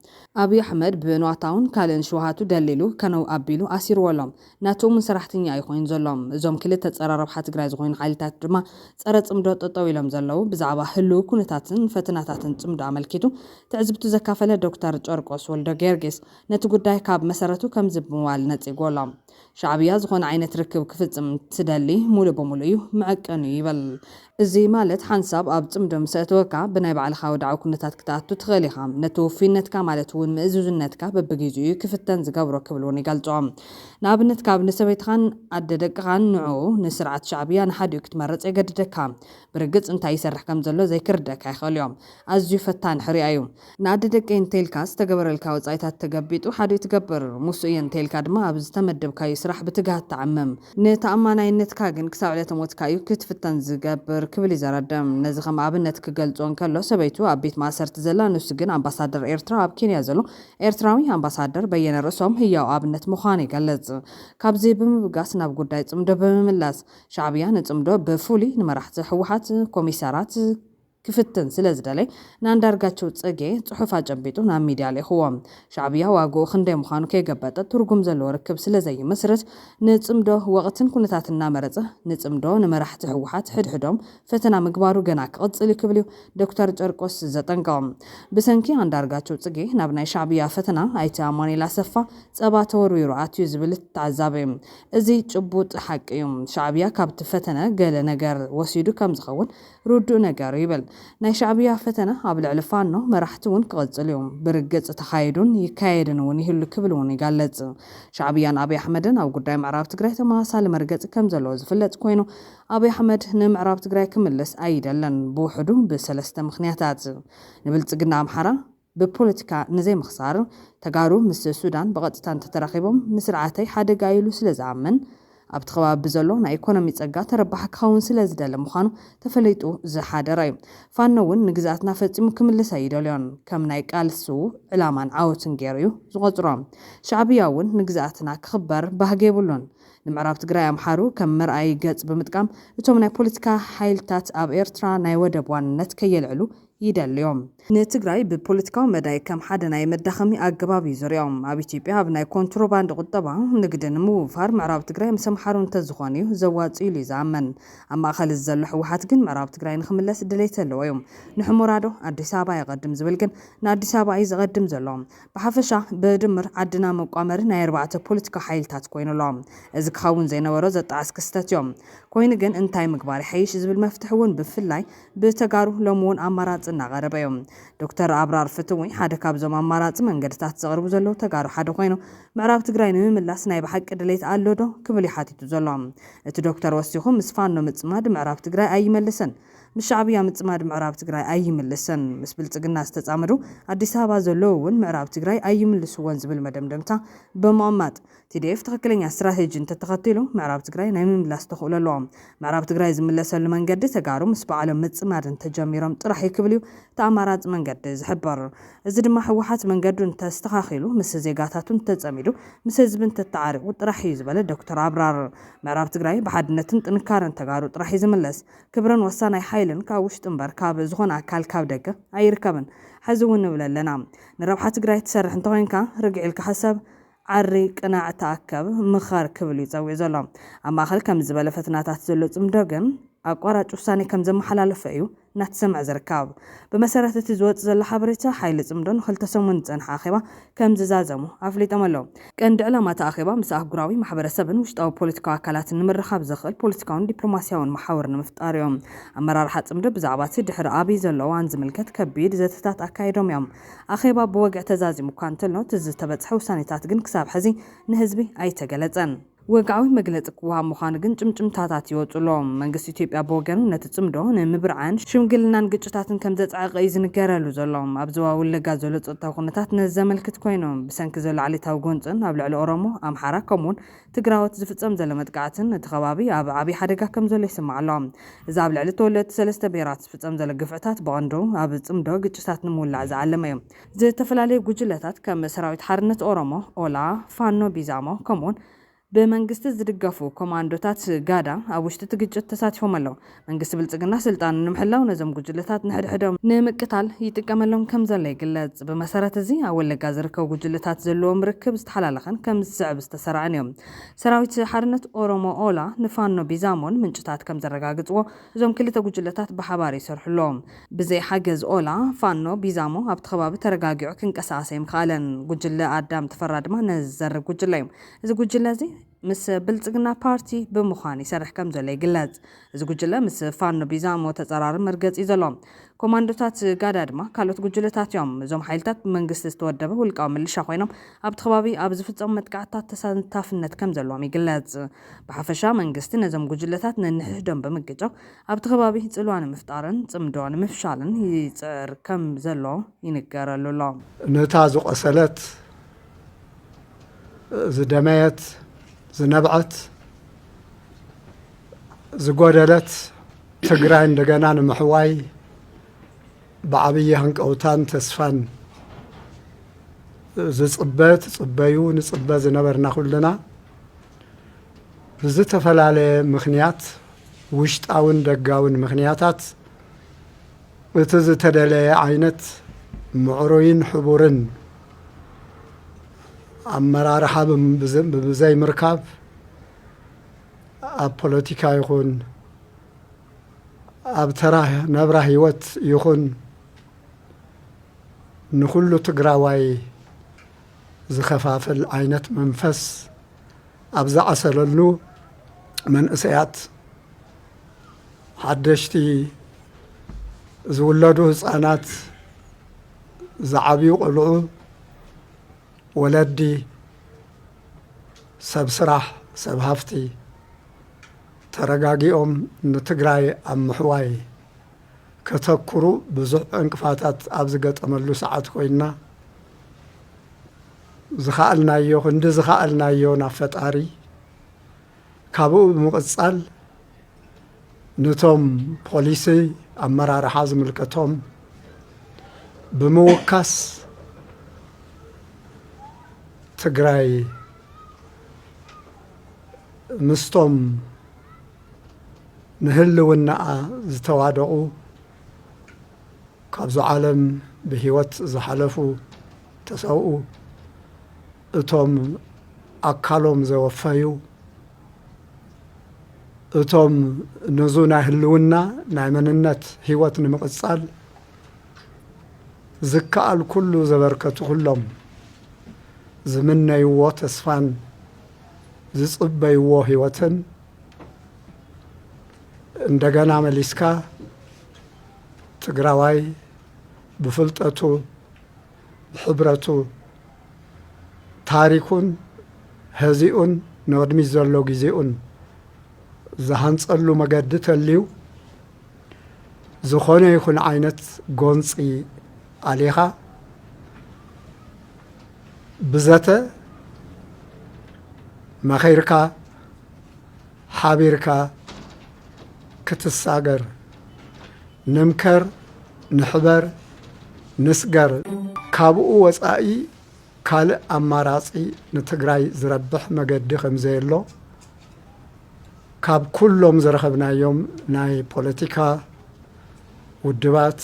ኣብይ ኣሕመድ ብንዋታውን ካልእን ሽውሃቱ ደልዲሉ ከነው ኣቢሉ ኣሲርዎ ኣሎ። ናቱ ም ሰራሕተኛ እዩ ኮይኑ ዘሎ። እዞም ክልተ ፀረ ረብሓ ትግራይ ዝኾይኑ ሓይልታት ድማ ፀረ ፅምዶ ጠጠው ኢሎም ዘለው። ብዛዕባ ህልው ኩነታትን ፈተናታትን ፅምዶ ኣመልኪቱ ትዕዝብቱ ዘካፈለ ዶክተር ጨርቆስ ወልደጊዮርጊስ ነቲ ጉዳይ ካብ መሰረቱ ከምዚ ብምባል ነፂግዎ ኣሎ። ሻዕብያ ዝኾነ ዓይነት ርክብ ክፍፅም እንትደሊ ሙሉእ ብሙሉእ እዩ መዐቀኒኡ ይብል። እዚ ማለት ሓንሳብ ኣብ ጽምዶ ምስ ኣእተወካ ብናይ ባዕልኻ ወድዓዊ ኩነታት ክትኣቱ ትኽእል ኢኻ። ነቲ ውፉይነትካ ማለት እውን ምእዙዝነትካ በብጊዚኡ እዩ ክፍተን ዝገብሮ ክብል እውን ይገልጾ። ንኣብነት ካብ ንሰበይትኻን ኣደ ደቅኻን ንዕኡ ንስርዓት ሻዕብያ ንሓዲኡ ክትመርጽ የገድደካ። ብርግጽ እንታይ ይሰርሕ ከም ዘሎ ዘይክርደኣካ ይኽእል እዮ። ኣዝዩ ፈታኒ ሕርያ እዩ። ንኣደ ደቀይ እንተይልካ ዝተገበረልካ ወጻኢታት ተገቢጡ ሓዲኡ ትገብር። ሙሱ እየ እንተይልካ ድማ ኣብ ዝተመደብካዩ ስራሕ ብትግሃት ትዓምም። ንተኣማናይነትካ ግን ክሳብ ዕለተ ሞትካ እዩ ክትፍተን ዝገብር ክብል ይዘረደ። ነዚ ከም ኣብነት ክገልጾ እንከሎ ሰበይቱ ኣብ ቤት ማእሰርቲ ዘላ ንሱ ግን ኣምባሳደር ኤርትራ ኣብ ኬንያ ዘሎ ኤርትራዊ ኣምባሳደር በየነ ርእሶም ህያው ኣብነት ምዃኑ ይገልጽ። ካብዚ ብምብጋስ ናብ ጉዳይ ጽምዶ ብምምላስ። ሻዕብያ ንጽምዶ ብፍሉይ ንመራሕቲ ህወሓት፣ ኮሚሳራት፣ ክፍትን ስለ ዝደለይ ንኣንዳርጋቸው ጽጌ ጽሑፍ ኣጨቢጡ ናብ ሚድያ ልኢኹዎ። ሻዕብያ ዋግኡ ክንደይ ምዃኑ ከይገበጠ ትርጉም ዘለዎ ርክብ ስለ ዘይምስርት ንጽምዶ ወቕትን ኩነታትን እናመረጸ ንጽምዶ ንመራሕቲ ህወሓት ሕድሕዶም ፈተና ምግባሩ ገና ክቕጽል እዩ ክብል'ዩ ዶክተር ጨርቆስ ዘጠንቅቕ። ብሰንኪ ኣንዳርጋቸው ጽጌ ናብ ናይ ሻዕብያ ፈተና ኣይተ ኣማኑኤል ኣሰፋ ጸባ ተወርዊሩ ኣትዩ ዝብል እቲ ተዓዛቢ እዚ ጭቡጥ ሓቂ እዩ። ሻዕብያ ካብቲ ፈተነ ገለ ነገር ወሲዱ ከም ዝኸውን ርዱእ ነገር ይብል ናይ ሻዕብያ ፈተነ ኣብ ልዕሊ ፋኖ መራሕቲ ውን ክቕጽል ዩ ብርግጽ ተኻይዱን ይካየድን ውን ይህሉ ክብል ውን ይገልጽ። ሻዕብያን ኣብይ ኣሕመድን ኣብ ጉዳይ ምዕራብ ትግራይ ተመሳሳሊ መርገጺ ከም ዘለዎ ዝፍለጥ ኮይኑ ኣብይ ኣሕመድ ንምዕራብ ትግራይ ክምልስ ኣይደልን ብውሕዱ ብሰለስተ ምኽንያታት ንብልጽግና ኣምሓራ ብፖለቲካ ንዘይምኽሳር፣ ተጋሩ ምስ ሱዳን ብቐጥታ እንተተራኺቦም ንስርዓተይ ሓደጋ እዩ ኢሉ ስለዝኣምን፣ ኣብቲ ከባቢ ብዘሎ ናይ ኢኮኖሚ ጸጋ ተረባሒ ክኸውን ስለዝደሊ ምዃኑ ተፈሊጡ ዝሓደረ እዩ። ፋኖ እውን ንግዝኣትና ፈጺሙ ክምልስ ኣይደልዮን። ከም ናይ ቃልሱ ዕላማን ዓወቱን ገይሩ እዩ ዝቖጽሮ። ሻዕብያ እውን ንግዝኣትና ክኽበር ባህጊ የብሉን። ንምዕራብ ትግራይ ኣምሓሩ ከም መርኣዪ ገጽ ብምጥቃም፣ እቶም ናይ ፖለቲካ ሓይልታት ኣብ ኤርትራ ናይ ወደብ ዋንነት ከየልዕሉ፣ ይደልዮም። ንትግራይ ብፖለቲካዊ መዳይ ከም ሓደ ናይ መዳኸሚ ኣገባብ እዩ ዝሪኦም። ኣብ ኢትዮጵያ ኣብ ናይ ኮንትሮባንድ ቁጠባ፣ ንግዲ፣ ንምውፋር ምዕራብ ትግራይ ምስ ኣምሓሩ እንተዝኾን እዩ ዘዋፅእ ኢሉ እዩ ዝኣምን። ኣብ ማእኸል እዚ ዘሎ ህወሓት ግን ምዕራብ ትግራይ ንክምለስ ድሌት ዘለዎ እዩ። ንሑሞራ ዶ ኣዲስ ኣበባ የቐድም ዝብል ግን ንኣዲስ ኣበባ እዩ ዘቐድም ዘሎ። ብሓፈሻ ብድምር ዓድና መቋመሪ ናይ ኣርባዕተ ፖለቲካዊ ሓይልታት ኮይኑ ኣሎ። እዚ ክኸውን ዘይነበሮ ዘጣዕስ ክስተት እዩ። ኮይኑ ግን እንታይ ምግባር ይሓይሽ ዝብል መፍትሒ እውን ብፍላይ ብተጋሩ ሎሚ እውን ኣማራፂ እናቐረበ እዩ። ዶክተር ኣብራር ፍትዊ ሓደ ካብዞም ኣማራፂ መንገድታት ዘቕርቡ ዘለዉ ተጋሩ ሓደ ኮይኑ ምዕራብ ትግራይ ንምምላስ ናይ ብሓቂ ድሌት ኣሎ ዶ? ክብል እዩ ሓቲቱ ዘሎ። እቲ ዶክተር ወሲኹ ምስ ፋኖ ምፅማድ ምዕራብ ትግራይ ኣይመልስን፣ ምስ ሻዕብያ ምፅማድ ምዕራብ ትግራይ ኣይምልስን፣ ምስ ብልፅግና ዝተፃመዱ ኣዲስ ኣበባ ዘለዉ እውን ምዕራብ ትግራይ ኣይምልስዎን ዝብል መደምደምታ ብምቕማጥ ቲዲኤፍ ትኽክለኛ ስትራቴጂ እንተተኸቲሉ ምዕራብ ትግራይ ናይ ምምላስ ተኽእሎ ኣለዎ። ምዕራብ ትግራይ ዝምለሰሉ መንገዲ ተጋሩ ምስ ባዕሎም ምፅማድ እንተጀሚሮም ጥራሕ እዩ ክብል እዩ እቲ ኣማራፂ መንገዲ ዝሕብር። እዚ ድማ ህወሓት መንገዱ እንተኣስተኻኺሉ፣ ምስ ዜጋታቱ እንተፀሚዱ፣ ምስ ህዝቢ እንተተዓሪቑ ጥራሕ እዩ ዝበለ ዶክተር ኣብራር፣ ምዕራብ ትግራይ ብሓድነትን ጥንካረን ተጋሩ ጥራሕ እዩ ዝምለስ። ክብርን ወሳናይ ሓይልን ካብ ውሽጢ እምበር ካብ ዝኾነ ኣካል ካብ ደገ ኣይርከብን። ሐዚ እውን ንብለለና ንረብሓ ትግራይ ትሰርሕ እንተኾይንካ ርግዕ ኢልካ ሕሰብ። ዓሪ ቅናዕ ተኣከብ ምኸር ክብል እዩ ጸዊዑ ዘሎ። ኣብ ማእከል ከምዚ ዝበለ ፈተናታት ዘሎ ጽምዶ ግን ኣቋራጭ ውሳኔ ከም ዘመሓላለፈ እዩ እናተሰምዐ ዝርካብ። ብመሰረት እቲ ዝወጽእ ዘሎ ሓበሬታ ሓይሊ ጽምዶ ንክልተ ሰሙን ዝጸንሐ ኣኼባ ከም ዝዛዘሙ ኣፍሊጦም ኣለው። ቀንዲ ዕላማ እቲ ኣኼባ ምስ ኣህጉራዊ ማሕበረሰብን ውሽጣዊ ፖለቲካዊ ኣካላትን ንምርኻብ ዘኽእል ፖለቲካውን ዲፕሎማሲያውን መሓውር ንምፍጣር እዩ። ኣመራርሓ ጽምዶ ብዛዕባ እቲ ድሕሪ ኣብይ ዘሎ እዋን ዝምልከት ከቢድ ዘተታት ኣካይዶም እዮም። ኣኼባ ብወግዒ ተዛዚሙ እኳ እንተሎ፣ እቲ ዝተበጽሐ ውሳኔታት ግን ክሳብ ሕዚ ንህዝቢ ኣይተገለጸን። ወግዓዊ መግለጺ ክወሃብ ምዃኑ ግን ጭምጭምታታት ይወጽኡ ኣሎ። መንግስቲ ኢትዮጵያ ብወገኑ ነቲ ጽምዶ ንምብርዓን ሽምግልናን ግጭታትን ከም ዘጽዐቐ እዩ ዝንገረሉ ዘሎ። ኣብ ዞባ ወለጋ ዘሎ ጸጥታዊ ኩነታት ነዚ ዘመልክት ኮይኑ፣ ብሰንኪ ዘሎ ዓሌታዊ ጎንጽን ኣብ ልዕሊ ኦሮሞ፣ ኣምሓራ ከምኡ'ውን ትግራዎት ዝፍፀም ዘሎ መጥቃዕትን እቲ ከባቢ ኣብ ዓብዪ ሓደጋ ከም ዘሎ ይስማዕ ኣሎ። እዚ ኣብ ልዕሊ ተወለድቲ ሰለስተ ብሄራት ዝፍፀም ዘሎ ግፍዕታት ብቐንዱ ኣብ ፅምዶ ግጭታት ንምውላዕ ዝዓለመ እዩ። ዝተፈላለዩ ጉጅለታት ከም ሰራዊት ሓርነት ኦሮሞ፣ ኦላ፣ ፋኖ ቢዛሞ ከምኡ'ውን ብመንግስቲ ዝድገፉ ኮማንዶታት ጋዳ ኣብ ውሽጢ እቲ ግጭት ተሳቲፎም ኣለው። መንግስቲ ብልፅግና ስልጣኑ ንምሕላው ነዞም ጉጅለታት ንሕድሕዶም ንምቅታል ይጥቀመሎም ከምዘሎ ይግለፅ። ብመሰረት እዚ ኣብ ወለጋ ዝርከቡ ጉጅለታት ዘለዎም ርክብ ዝተሓላለኸን ከምዚ ዝስዕብ ዝተሰራዐን እዩ። ሰራዊት ሓርነት ኦሮሞ፣ ኦላ፣ ንፋኖ ቢዛሞን ምንጭታት ከምዘረጋግፅዎ እዞም ክልተ ጉጅለታት ብሓባር ይሰርሑ ኣለዉ። ብዘይ ሓገዝ ኦላ፣ ፋኖ፣ ቢዛሞ ኣብቲ ከባቢ ተረጋጊዑ ክንቀሳቐስ ኣይምኸኣለን። ጉጅለ ኣዳም ተፈራ ድማ ነዚ ዝዘርግ ጉጅለ እዩ። እዚ ጉጅለ እዚ። ምስ ብልፅግና ፓርቲ ብምዃን ይሰርሕ ከምዘሎ ይግለፅ። እዚ ጉጅለ ምስ ፋኖ ቢዛሞ ተፀራሪ መርገፂ እዩ ዘሎ። ኮማንዶታት ጋዳ ድማ ካልኦት ጉጅለታት እዮም። እዞም ሓይልታት ብመንግስቲ ዝተወደበ ውልቃዊ ምልሻ ኮይኖም ኣብቲ ከባቢ ኣብ ዝፍፀሙ መጥቃዕትታት ተሳታፍነት ከምዘለዎም ይግለፅ። ብሓፈሻ መንግስቲ ነዞም ጉጅለታት ነንሕሕዶም ብምግጫው ኣብቲ ከባቢ ፅልዋ ንምፍጣርን ፅምዶ ንምፍሻልን ይፅዕር ከምዘሎ ይንገረሉ ኣሎ። ነታ ዝቖሰለት ዝደመየት፣ ዝነብዐት፣ ዝጎደለት ትግራይ እንደገና ንምሕዋይ ብዓብዪ ሃንቀውታን ተስፋን ዝፅበ ትፅበዩ ንፅበ ዝነበርና ኩልና ብዝተፈላለየ ምክንያት ውሽጣውን ደጋውን ምክንያታት እቲ ዝተደለየ ዓይነት ምዕሩይን ሕቡርን ኣመራርሓ ብዘይምርካብ ኣብ ፖለቲካ ይኹን ኣብ ተራ ናብራ ህይወት ይኹን ንኹሉ ትግራዋይ ዝኸፋፍል ዓይነት መንፈስ ኣብ ዝዓሰለሉ መንእሰያት ሓደሽቲ ዝውለዱ ህፃናት ዝዓብዩ ቆልዑ፣ ወለዲ፣ ሰብ ስራሕ፣ ሰብ ሃፍቲ ተረጋጊኦም ንትግራይ ኣብ ምሕዋይ ከተኩሩ ብዙሕ ዕንቅፋታት ኣብ ዝገጠመሉ ሰዓት ኮይንና ዝኸኣልናዮ ክንዲ ዝኸኣልናዮ ናብ ፈጣሪ ካብኡ ብምቕፃል ኑቶም ፖሊሲ ኣመራርሓ ዝምልከቶም ብምውካስ ትግራይ ምስቶም ንህልውናኣ ዝተዋደቑ ካብዚ ዓለም ብህይወት ዝሓለፉ ተሰውኡ እቶም ኣካሎም ዘወፈዩ፣ እቶም ነዙ ናይ ህልውና ናይ መንነት ህይወት ንምቕጻል ዝከኣል ኩሉ ዘበርከቱ ኩሎም ዝምነይዎ ተስፋን ዝጽበይዎ ህይወትን እንደገና መሊስካ ትግራዋይ ብፍልጠቱ ሕብረቱ ታሪኩን ሀዚኡን ንቕድሚት ዘሎ ግዜኡን ዝሃንፀሉ መገዲ ተልዩ ዝኾነ ይኹን ዓይነት ጎንፂ ኣሊኻ ብዘተ መኺርካ ሓቢርካ ክትሳገር ንምከር፣ ንሕበር፣ ንስገር ካብኡ ወፃኢ ካልእ ኣማራፂ ንትግራይ ዝረብሕ መገዲ ከምዘየሎ ካብ ኩሎም ዝረኸብናዮም ናይ ፖለቲካ ውድባት፣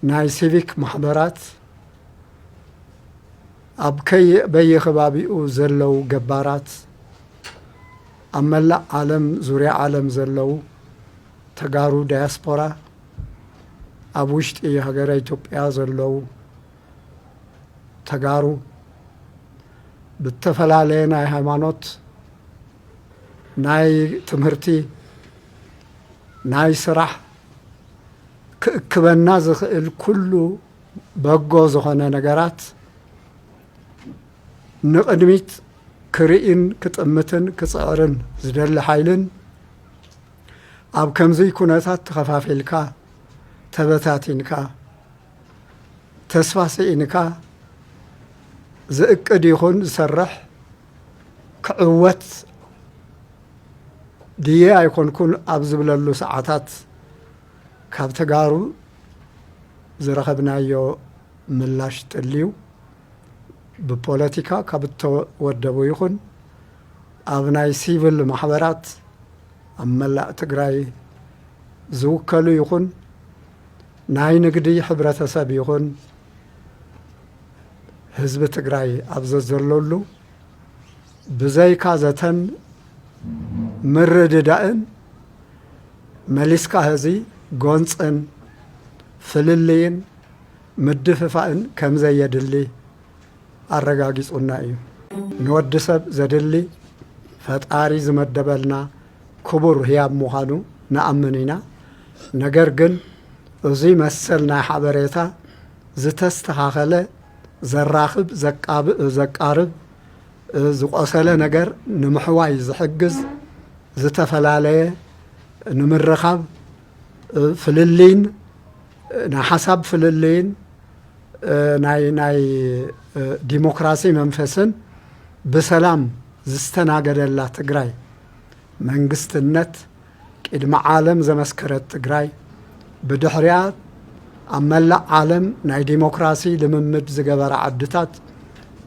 ናይ ሲቪክ ማሕበራት፣ ኣብ በየከባቢኡ ዘለው ገባራት፣ ኣብ መላእ ዓለም ዙርያ ዓለም ዘለው ተጋሩ ዳያስፖራ ኣብ ውሽጢ ሃገረ ኢትዮጵያ ዘለው ተጋሩ ብተፈላለየ ናይ ሃይማኖት ናይ ትምህርቲ ናይ ስራሕ ክእክበና ዝኽእል ኩሉ በጎ ዝኾነ ነገራት ንቕድሚት ክርእይን ክጥምትን ክፅዕርን ዝደሊ ሓይልን ኣብ ከምዙይ ኩነታት ተኸፋፊልካ ተበታቲንካ ተስፋ ስኢንካ ዝእቅድ ይኹን ዝሰርሕ ክዕወት ድየ ኣይኮንኩን ኣብ ዝብለሉ ሰዓታት ካብ ተጋሩ ዝረኸብናዮ ምላሽ ጥልዩ ብፖለቲካ ካብ እተወደቡ ይኹን ኣብ ናይ ሲቭል ማሕበራት ኣብ መላእ ትግራይ ዝውከሉ ይኹን ናይ ንግዲ ሕብረተሰብ ይኹን ህዝቢ ትግራይ ኣብ ዘዘለሉ ብዘይካ ዘተን ምርድዳእን መሊስካ ህዚ ጎንፅን ፍልልይን ምድፍፋእን ከም ዘየድሊ ኣረጋጊጹና እዩ። ንወዲ ሰብ ዘድሊ ፈጣሪ ዝመደበልና ክቡር ህያብ ምዃኑ ንኣምን ኢና። ነገር ግን እዙይ መሰል ናይ ሓበሬታ ዝተስተኻኸለ፣ ዘራኽብ፣ ዘቃብእ፣ ዘቃርብ፣ ዝቆሰለ ነገር ንምሕዋይ ዝሕግዝ፣ ዝተፈላለየ ንምርኻብ፣ ፍልልይን ናይ ሓሳብ ፍልልይን ናይ ናይ ዲሞክራሲ መንፈስን ብሰላም ዝስተናገደላ ትግራይ መንግስትነት ቂድሚ ዓለም ዘመስከረት ትግራይ ብድሕሪኣ ኣብ መላእ ዓለም ናይ ዲሞክራሲ ልምምድ ዝገበራ ዓድታት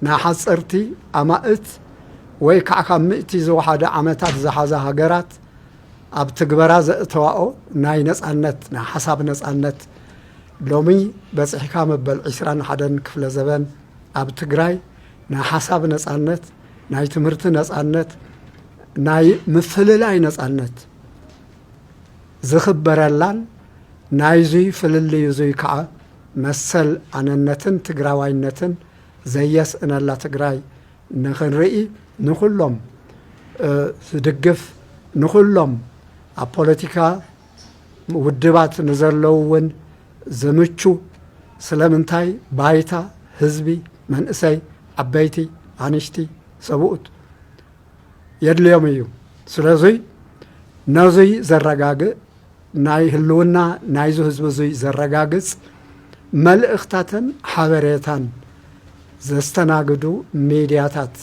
ናይ ሓፀርቲ ኣማእት ወይ ከዓ ካብ ምእቲ ዝወሓደ ዓመታት ዝሓዛ ሃገራት ኣብ ትግበራ ዘእተዋኦ ናይ ነጻነት ናይ ሓሳብ ነጻነት ሎሚ በጺሕካ መበል ዕስራን ሓደን ክፍለ ዘበን ኣብ ትግራይ ናይ ሓሳብ ነጻነት ናይ ትምህርቲ ነጻነት ናይ ምፍልላይ ነጻነት ዝኽበረላን ናይዙይ ፍልልይ እዙይ ከዓ መሰል ኣነነትን ትግራዋይነትን ዘየስእነላ ትግራይ ንክንርኢ ንኹሎም ዝድግፍ ንኹሎም ኣብ ፖለቲካ ውድባት ንዘለው እውን ዝምቹ ስለምንታይ ባይታ ህዝቢ መንእሰይ ዓበይቲ ኣንሽቲ ሰብኡት የድልዮም እዩ ስለዙይ ነዙይ ዘረጋግእ ናይ ህልውና ናይዙ ህዝቢ እዙይ ዘረጋግፅ መልእኽታትን ሓበሬታን ዘስተናግዱ ሚድያታት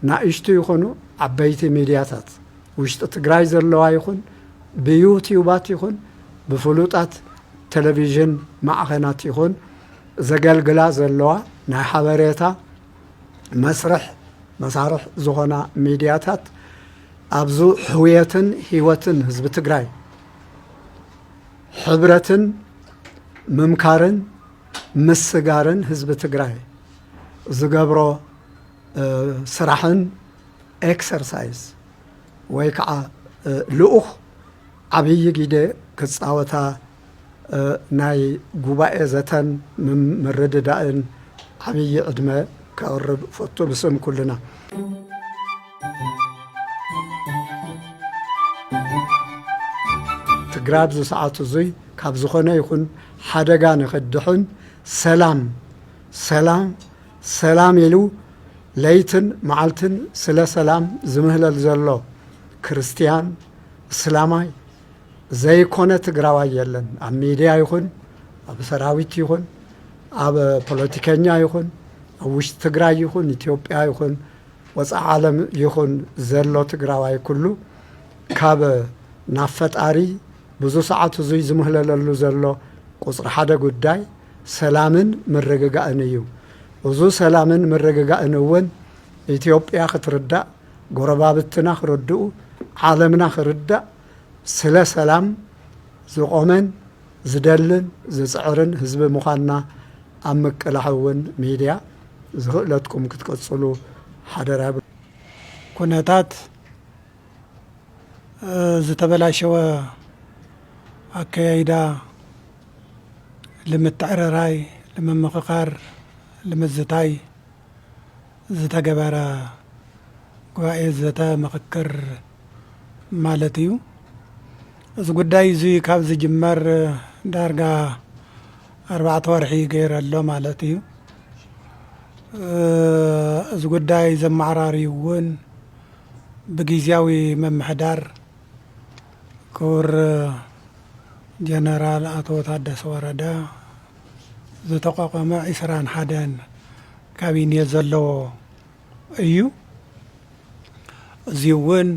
ናእሽቱ ይኹኑ ዓበይቲ ሚድያታት ውሽጢ ትግራይ ዘለዋ ይኹን ብዩትዩባት ይኹን ብፍሉጣት ቴሌቪዥን ማዕኸናት ይኹን ዘገልግላ ዘለዋ ናይ ሓበሬታ መስርሕ መሳርሕ ዝኾና ሚድያታት ኣብዙ ሕውየትን ህይወትን ህዝቢ ትግራይ ሕብረትን ምምካርን ምስጋርን ህዝቢ ትግራይ ዝገብሮ ስራሕን ኤክሰርሳይዝ ወይ ከዓ ልኡኽ ዓብዪ ጊደ ክፃወታ ናይ ጉባኤ ዘተን ምርድዳእን ዓብዪ ዕድመ ከቕርብ እፈቱ ብስም ኩልና። ትግራይ ኣብዚ ሰዓት እዙይ ካብ ዝኾነ ይኹን ሓደጋ ንክድሕን ሰላም ሰላም ሰላም ኢሉ ለይትን መዓልትን ስለ ሰላም ዝምህለል ዘሎ ክርስትያን እስላማይ ዘይኮነ ትግራዋይ የለን ኣብ ሚድያ ይኹን ኣብ ሰራዊት ይኹን ኣብ ፖለቲከኛ ይኹን ኣብ ውሽጢ ትግራይ ይኹን ኢትዮጵያ ይኹን ወፃኢ ዓለም ይኹን ዘሎ ትግራዋይ ኩሉ ካብ ናብ ፈጣሪ ብዙ ሰዓት እዙይ ዝምህለለሉ ዘሎ ቁፅሪ ሓደ ጉዳይ ሰላምን ምርግጋእን እዩ። እዙ ሰላምን ምርግጋእን እውን ኢትዮጵያ ክትርዳእ ጎረባብትና ክርድኡ ዓለምና ክርዳእ ስለ ሰላም ዝቖመን ዝደልን ዝጽዕርን ህዝቢ ምዃንና ኣብ ምቅላሕ እውን ሚድያ ዝኽእለትኩም ክትቅጽሉ ሓደራ ይብሉ። ኩነታት ዝተበላሸወ ኣከያይዳ ልምትዕርራይ ልምምኽኻር ልምዝታይ፣ ዝተገበረ ጉባኤ ዘተ ምኽክር ማለት እዩ። እዚ ጉዳይ እዚ ካብ ዝጅመር ዳርጋ ኣርባዕተ ወርሒ ገይረ ኣሎ ማለት እዩ። እዚ ጉዳይ ዘመዓራርዩ እውን ብግዜያዊ ምምሕዳር ክቡር ጀነራል ኣቶ ታደሰ ወረደ ዝተቋቋመ ዕስራን ሓደን ካቢኔ ዘለዎ እዩ። እዙይ እውን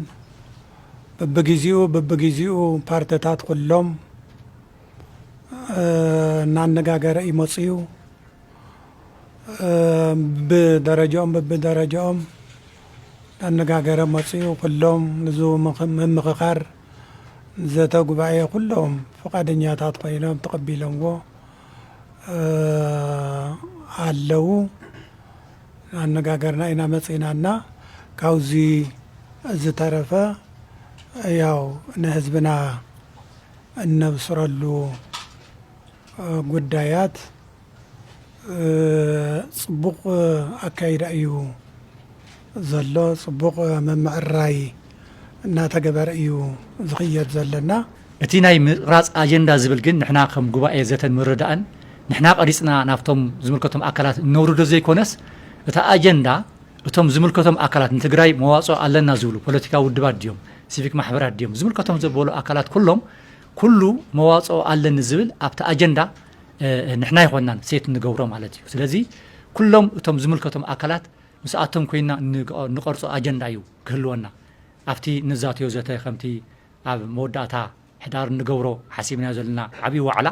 በብጊዜኡ በብጊዜኡ ፓርትታት ኩሎም እናነጋገረ እዩ መፅዩ። ብደረጃኦም በብደረጃኦም ኣነጋገረ መፅኡ ኩሎም ንዙ ምምኽኻር ዘተ ጉባኤ ኩሎም ፍቃደኛታት ኮይኖም ተቀቢሎምዎ ኣለው ኣነጋገርና ኢና መፂእና እና ካብዙ ዝተረፈ ያው ንህዝብና እነብስረሉ ጉዳያት ፅቡቕ ኣካይዳ እዩ ዘሎ ፅቡቕ ምምዕርራይ እናተገበረ እዩ ዝኽየድ ዘለና። እቲ ናይ ምቕራፅ ኣጀንዳ ዝብል ግን ንሕና ከም ጉባኤ ዘተን ምርዳእን ንሕና ቀሪፅና ናብቶም ዝምልከቶም ኣካላት እነውርዶ ዘይኮነስ እቲ ኣጀንዳ እቶም ዝምልከቶም ኣካላት ንትግራይ መዋፅኦ ኣለና ዝብሉ ፖለቲካዊ ውድባት ድዮም ሲቪክ ማሕበራት ድዮም ዝምልከቶም ዘበሉ ኣካላት ኩሎም ኩሉ መዋፅኦ ኣለኒ ዝብል ኣብቲ ኣጀንዳ ንሕና ኣይኮናን ሴት ንገብሮ ማለት እዩ ስለዚ ኩሎም እቶም ዝምልከቶም ኣካላት ምስኣቶም ኮይና ንቐርፆ ኣጀንዳ እዩ ክህልወና ኣብቲ ንዛትዮ ዘተ ከምቲ ኣብ መወዳእታ ሕዳር ንገብሮ ሓሲብናዮ ዘለና ዓብዪ ዋዕላ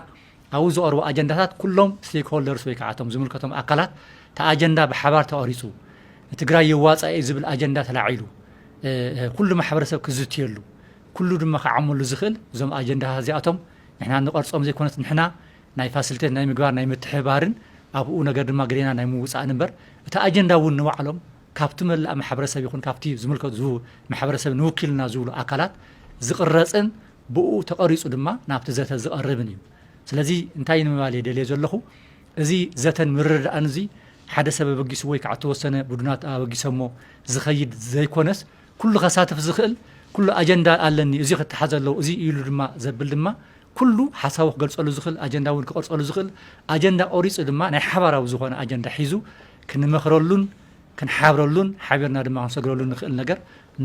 ኣብኡ ዝቐርቡ ኣጀንዳታት ኩሎም ስቴክ ሆልደርስ ወይ ከዓ እቶም ዝምልከቶም ኣካላት እቲ ኣጀንዳ ብሓባር ተቐሪፁ ትግራይ የዋፃ እዩ ዝብል ኣጀንዳ ተላዒሉ ኩሉ ማሕበረሰብ ክዝትየሉ ኩሉ ድማ ክዓመሉ ዝኽእል እዞም ኣጀንዳታት እዚኣቶም ንሕና ንቐርጾም ዘይኮነስ ንሕና ናይ ፋሲሊቴት ናይ ምግባር ናይ ምትሕብባርን ኣብኡ ነገር ድማ ግዴና ናይ ምውጻእን እምበር እቲ ኣጀንዳ እውን ንባዕሎም ካብቲ መላእ ማሕበረሰብ ይኹን ካብቲ ዝምልከቱ ዝቡ ማሕበረሰብ ንውኪልና ዝብሉ ኣካላት ዝቕረጽን ብኡ ተቐሪጹ ድማ ናብቲ ዘተ ዝቐርብን እዩ ስለዚ እንታይ ንምባል እየ ደልየ ዘለኹ እዚ ዘተን ምርድዳእን እዚ ሓደ ሰብ ኣበጊሱ ወይ ከዓ ተወሰነ ቡድናት ኣበጊሰሞ ዝኸይድ ዘይኮነስ ኩሉ ከሳትፍ ዝኽእል ኩሉ ኣጀንዳ ኣለኒ እዙይ ክተሓዝ ኣለዎ እዙይ እዩ ኢሉ ድማ ዘብል ድማ ኩሉ ሓሳቡ ክገልፀሉ ዝኽእል ኣጀንዳ እውን ክቐርፀሉ ዝኽእል ኣጀንዳ ቆሪፁ ድማ ናይ ሓባራዊ ዝኾነ ኣጀንዳ ሒዙ ክንመኽረሉን ክንሓብረሉን ሓቢርና ድማ ክንሰግረሉ ንኽእል ነገር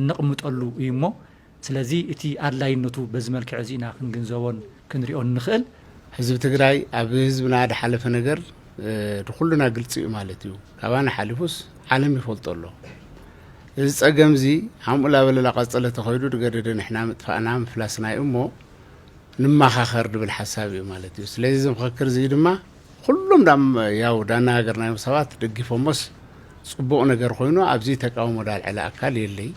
ነቕምጠሉ እዩ እሞ ስለዚ እቲ ኣድላይነቱ በዚ መልክዕ እዚ ኢና ክንግንዘቦን ክንሪኦን ንኽእል። ህዝቢ ትግራይ ኣብ ህዝብና ድሓለፈ ነገር ንኩሉና ግልፂ እዩ ማለት እዩ። ካባና ሓሊፉስ ዓለም ይፈልጦ ኣሎ። እዚ ጸገምዚ ሓምኡ ላበለላ ቀጸለ ተኸይዱ ድገደደ ንሕና ምጥፋእና ምፍላስና እዩ እሞ ንማኻኸር ድብል ሓሳብ እዩ ማለት እዩ። ስለዚ እዚ ምኸክር እዚ ድማ ኩሎም ዳም ያው ዳናገርናዮም ሰባት ደጊፎሞስ ጽቡቕ ነገር ኮይኑ ኣብዚ ተቃውሞ ዳልዐለ ኣካል የለይ።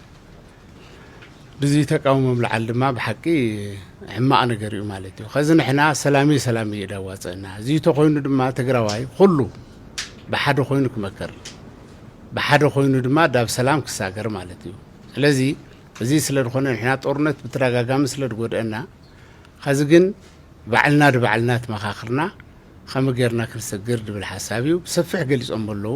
ድዚ ተቃውሞ ምልዓል ድማ ብሓቂ ሕማቕ ነገር እዩ ማለት እዩ። ከዚ ንሕና ሰላምይ ሰላምይ እዩ ዳዋጸእና። እዚ ተኾይኑ ድማ ትግራዋይ ኹሉ ብሓደ ኮይኑ ክመክር ብሓደ ኮይኑ ድማ ዳብ ሰላም ክሳገር ማለት እዩ። ስለዚ እዚ ስለ ድኾነ ንሕና ጦርነት ብተዳጋጋሚ ስለ ድጎድእና ኸዚ ግን ባዕልና ድባዕልና ትመኻኽርና ኸመ ገርና ክንሰግር ድብል ሓሳብ እዩ ብሰፊሕ ገሊጾም በለዉ።